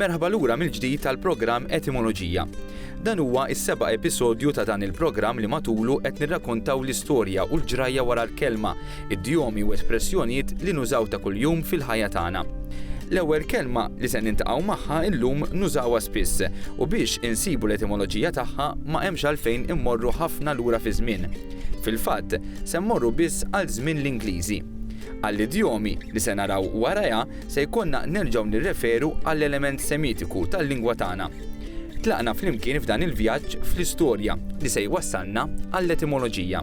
Merħba lura mill-ġdid tal-programm Etimoloġija. Dan huwa is-seba' episodju ta' dan il-programm li matulu qed nirrakontaw l-istorja u l-ġrajja wara l-kelma idjomi u espressjonijiet li nużaw ta' kuljum fil-ħajja tagħna. L-ewwel kelma li se niltaqgħu magħha llum nużawha spiss u biex insibu l-etimoloġija tagħha ma hemmx għalfejn immorru ħafna lura fiż-żmien. Fil-fatt, se mmorru biss għal żmien l-Ingliżi. Għall-idjomi li se naraw warajha se jkollna nerġgħu nirreferu għall-element Semitiku tal-lingwa tagħna. Tlaqna flimkien f'dan il-vjaġġ fl-istorja li se jwassalna għall-etimoloġija.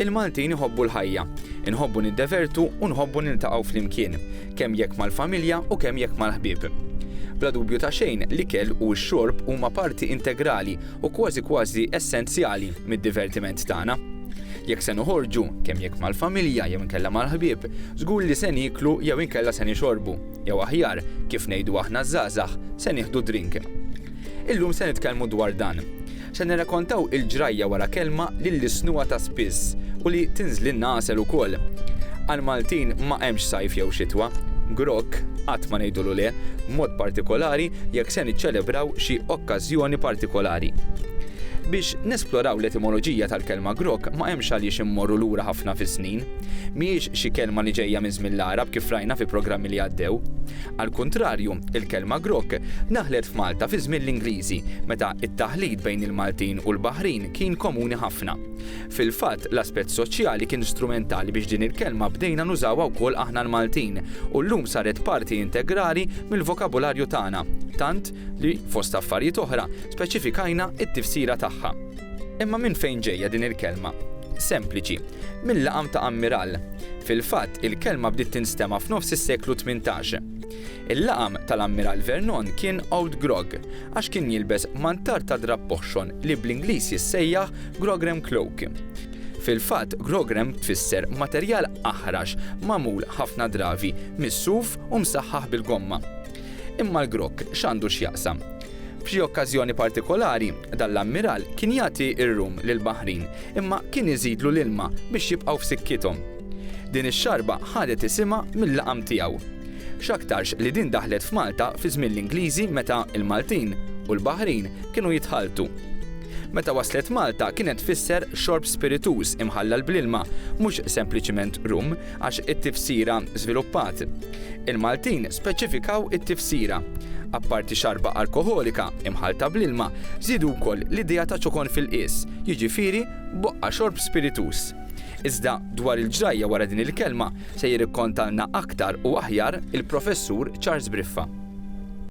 Il-Maltin iħobbu l-ħajja. Inħobbu niddevertu u nħobbu niltaqgħu flimkien, kemm jekk mal-familja u kemm jekk mal-ħbieb. Bla dubju ta' xejn, l-ikel u x-xorb huma parti integrali u kważi kważi essenzjali mid-divertiment tagħna. Jekk se noħorġu, kemm jekk mal-familja jew inkella mal-ħbieb, żgur li se nieklu jew inkella se nixorbu, jew aħjar, kif ngħidu aħna ż-żgħażagħ, se nieħdu drink. Illum se nitkellmu dwar dan. Se nirrakontaw il-ġrajja wara kelma li lissnuha ta' spiss u li tinżlilna għasel ukoll. Għall-Maltin ma hemmx sajf jew xitwa. Grokk, qatt ma ngħidulu le, b'mod partikolari jekk se niċċelebraw xi okkażjoni partikolari. Biex nesploraw l-etimoloġija tal-kelma grokk ma hemmx għaliex immorru lura ħafna fis-snin. Mhijiex xi kelma li ġejja minn żmien l-Għarab kif rajna fi programmi li għaddew. Għall-kuntrarju, il-kelma grokk daħlet f'Malta fi żmien l-Ingliżi, meta t-taħlit bejn il-Maltin u l-Baħrin kien komuni ħafna. Fil-fatt, l-aspett soċjali kien strumentali biex din il-kelma bdejna nużawha wkoll aħna l-Maltin, u llum saret parti integrali mill-vokabularju tagħna, tant li, fost affarijiet oħra, speċifikajna t-tifsira tagħha. Imma minn fejn ġejja din il-kelma? Sempliċi, mil-laqam ta' ammiral. Fil-fatt, il-kelma bdiet tinstema' f'nofs is-seklu tmintax. Il-laqam tal-Ammiral Vernon kien Old Grog għax kien jilbes mantar ta' drapp oħxon li bl-Ingliż jissejjaħ grogram cloak. Fil-fatt, grogram tfisser materjal aħrax magħmul ħafna dravi mis-suf u msaħħaħ bil-gomma. Imma l-grog x'għandu x'jaqsam? F'xi okkażjoni partikolari, dan l-ammiral kien jagħti r-rum lill-baħrin, imma kien iżidlu l-ilma biex jibqgħu f'sikkithom. Din ix-xarba ħadet isimha mil-laqam tiegħu. X'aktarx li din daħlet f'Malta fi żmien l-Ingliżi meta l-Maltin u l-baħrin kienu jitħalltu. Meta waslet Malta kienet tfisser xorb spirituż imħallal bl-ilma, mhux sempliċiment rum, Għax it-tifsira żviluppat. Il-Maltin speċifikaw it-tifsira. Apparti xarba alkoħolika imħallta bl-ilma, żiedu wkoll l-idea ta' ċokon fil-qies, jiġifieri boqqa xorb spirituż. Iżda dwar il-ġrajja wara din il-kelma sejjer ikkontalna aktar u aħjar il-Professur Charles Briffa.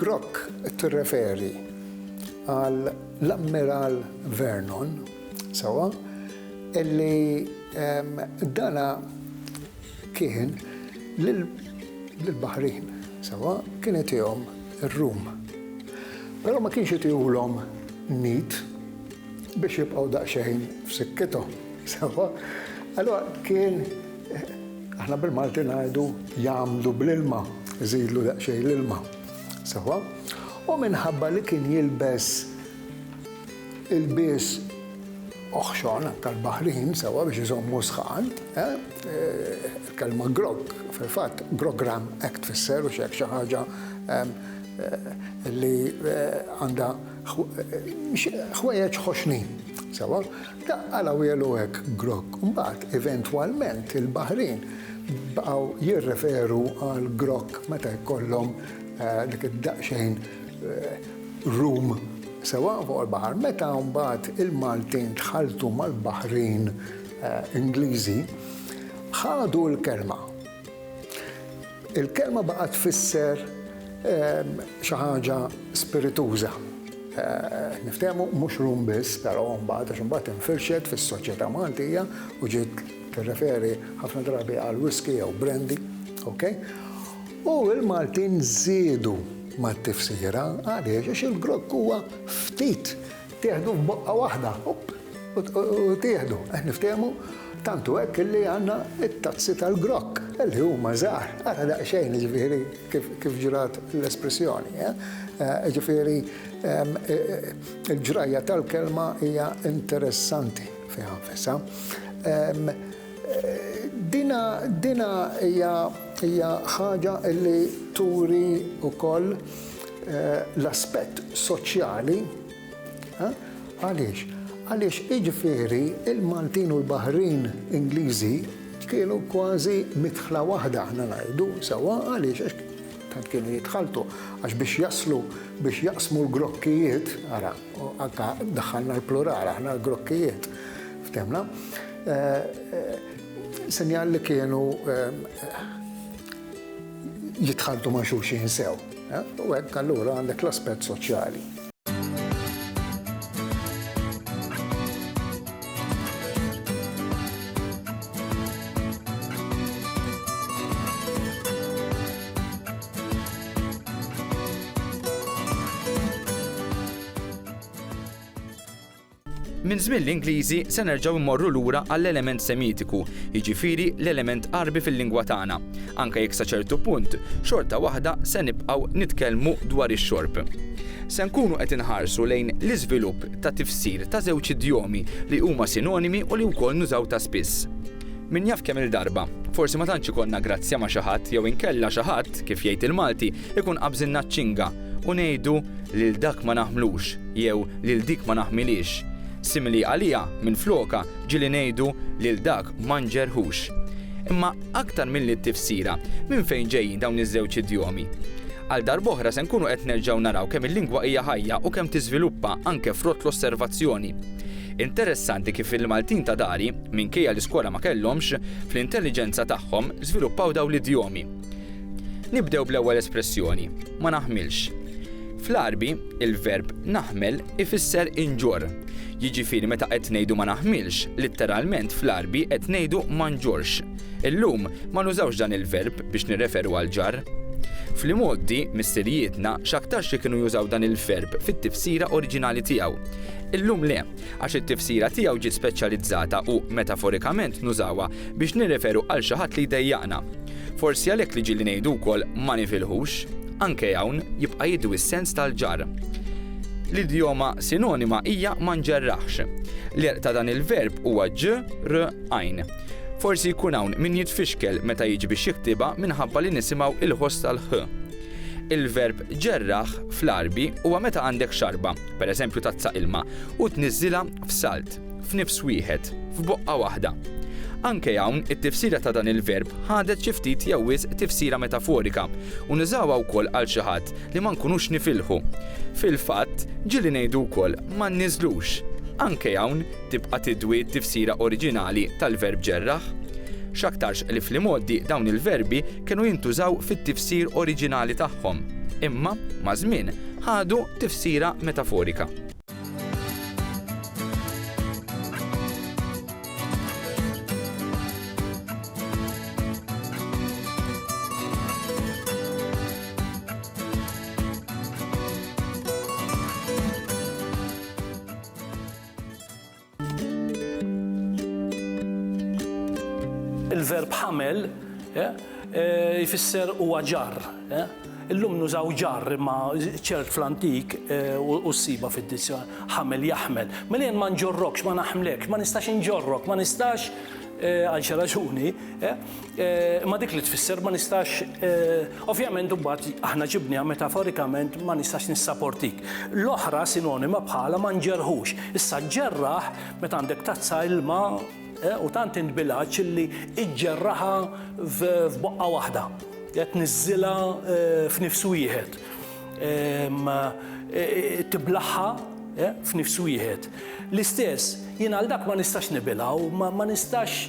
Grok tirreferi għal l-Ammiral Vernon, sewa, illi dana kien lill-baħrin, sewa, kien itihom ir-rum. Però ma kienx itihulhom nid biex jibqgħu daqsxejn f'sikkithom, sewa. Allura kien Aħna bil-Malti ngħidu jagħmlu bl-ilma, iżidlu daqsxejn l-ilma. Sewwa? U minħabba li kien jilbes ilbies oħxon tal-baħrin sewwa biex iżommu sħan, eh, eh, kelma grog, fil-fatt grogram hekk tfisser u x'hekk xi ħaġa eh, li għandha Ħwejjeġ ħoxnin, sewwa, daqqa l-għawieħ u hekk, grog. Imbagħad, eventwalment, il-baħrin baqgħu jirreferu għall-grog meta jkollhom dik id-daqsxejn rum, sewwa, fuq il-baħar. Meta mbagħad il-Maltin tħalltu mal-baħrin Ingliżi, ħadu l-kelma. Il-kelma baqgħet tfisser xi ħaġa spirituża. Niftehmu mhux rum biss, però mbagħad għax imbagħad infirxet fis-soċjetà Maltija u ġiet tirreferi ħafna drabi għal whisky jew brandy, okay? U l-Maltin żiedu mat-tifsira għaliex għax il-grokk huwa ftit Tieħdu f'boqqa waħda, opp, u tieħdu. Qed niftehmu? Tant hu hekk illi għandna t-tazzi tal-grokk, li huma żgħar, ara daqsxejn, jiġifieri, kif ġrat l-espressjoni, jiġifieri, il-ġrajja tal-kelma hija interessanti fiha nfisha. Din hija ħaġa li turi wkoll l-aspett soċjali. Għaliex? Għaliex jiġifieri l-Maltin u l-Baħrin Ingliżi kienu kważi midħla waħda aħna ngħidu sewwa għaliex għax tant kienu jitħalltu għax biex jaslu biex jaqsmu l-grokkijiet ara. U anka daħħalna l-plural, aħna l-grokkijiet, ftemna. Eh, eh, sinjal li kienu eh, jitħaddu ma' xulxin sew. U għek allura għandek l-aspet soċjali. Minn żmien l-Ingliżi se nerġgħu mmorru lura għall-element Semitiku, jiġifieri l-element Għarbi fil-lingwa tagħna. Anke jekk sa ċertu punt, xorta waħda se nibqgħu nitkellmu dwar ix-xorb. Se nkunu qed inħarsu lejn l-iżvilupp ta' tifsir ta' żewġ idjomi li huma sinonimi u li wkoll nużaw ta' spiss. Min jaf kemm-il darba, forsi ma tantx ikollna grazzja ma' xi ħadd jew inkella xi ħadd, kif jgħid il-Malti, ikun qabżilna ċ-ċinga u ngħidu lil dak ma naħmlux jew lil dik ma naħmilhiex. Simili għaliha, minflokha, ġieli ngħidu lil dak ma nġerħux. Imma aktar milli t-tifsira, minn fejn ġejjin dawn iż-żewġ idjomi? Għal darb'oħra se nkunu qed nerġgħu naraw kemm il-lingwa hija ħajja u kemm tiżviluppa anke frott l-osservazzjoni. Interessanti kif il-Maltin ta' dari, minkejja li skola ma kellhomx, fl-intelliġenza tagħhom żviluppaw dawn l-idjomi. Nibdew bl-ewwel espressjoni, ma naħmilx. Fl-Għarbi, il-verb naħmel ifisser inġorr. Jiġifieri meta qed ngħidu ma naħmilx, litteralment fl-Għarbi qed ngħidu ma nġorrx. Illum, ma nużawx dan il-verb biex nirreferu għal ġarr. Fl-imgħoddi, missirijietna x'aktarx li kienu jużaw dan il-verb fit-tifsira oriġinali tiegħu. Illum le, għax it-tifsira tiegħu ġiet speċjalizzata u, metaforikament, nużawha biex nirreferu għal xi ħadd li jdejjaqna. Forsi għalhekk li ġieli ngħidu wkoll ma nifilħux. Anke hawn, jibqa' jidwi s-sens tal-ġarr. L-idjoma sinonima hija ma nġerraħx. L-għerq ta' dan il-verb huwa ġ, r, għajn. Forsi jkun hawn min jitfixkel meta jiġi biex jiktibha minħabba li nisimgħu l-ħoss tal-ħ. Il-verb ġerraħ fl-Għarbi huwa meta għandek xarba, pereżempju tazza ilma, u tniżżilha f'salt, f'nifs wieħed, f'boqqa waħda. Anke hawn, it-tifsira ta' dan il-verb ħadet xi ftit jew wisq tifsira metaforika, u nużawha wkoll għal xi ħadd li ma nkunux nifilħu. Fil-fatt, ġieli ngħidu wkoll ma nniżżlux. Anke hawn, tibqa' tidwi t-tifsira oriġinali tal-verb ġerraħ, x'aktarx li fl-imgħoddi dawn il-verbi kienu jintużaw fit-tifsir oriġinali tagħhom, imma, maż-żmien, ħadu tifsira metaforika. Il-verb ħamel eh, eh, jfisser huwa ġar. Eh. Illum nużaw ġar imma ċert fl-antik u s-siba fid-dizzjon ħamel jaħmel. Mela jien ma nġorrokx, ma naħmlekx, ma nistax inġorrok, ma nistax għal xi raġuni. Imma dik li tfisser ma nistax, ovvjament imbagħad aħna ġibniha metaforikament ma nistax nissaportik. L-oħra sinonima bħalha ma nġerħux. Issa ġġerraħ meta għandek tazza ilma u tant int bil-għatx illi iġġerraħha f'boqqa waħda. Qed tniżżilha f'nifs wieħed. Tiblaħha f'nifs wieħed. L-istess, jien għal dak ma nistax nibilgħu, ma nistax,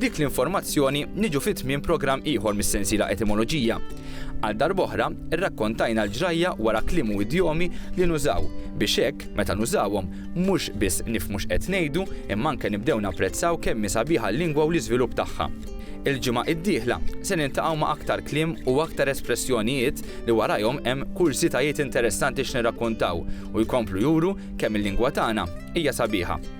B'dik l-informazzjoni niġu fi tmiem programm ieħor mis-sensiela Etimoloġija. Għal darb'oħra, irrakkontajna l-ġrajja wara kliem u idjomi li nużaw biex hekk, meta nużawhom, mhux biss nifhmu x'qed ngħidu, imma anke nibdew napprezzaw kemm hi sabiħa l-lingwa u l-iżvilupp tagħha. Il-ġimgħa d-dieħla se niltaqgħu ma' aktar kliem u aktar espressjonijiet li warajhom hemm kurżitajiet interessanti x'nirrakkontaw u jkomplu juru kemm il-lingwa tagħna hija sabiħa.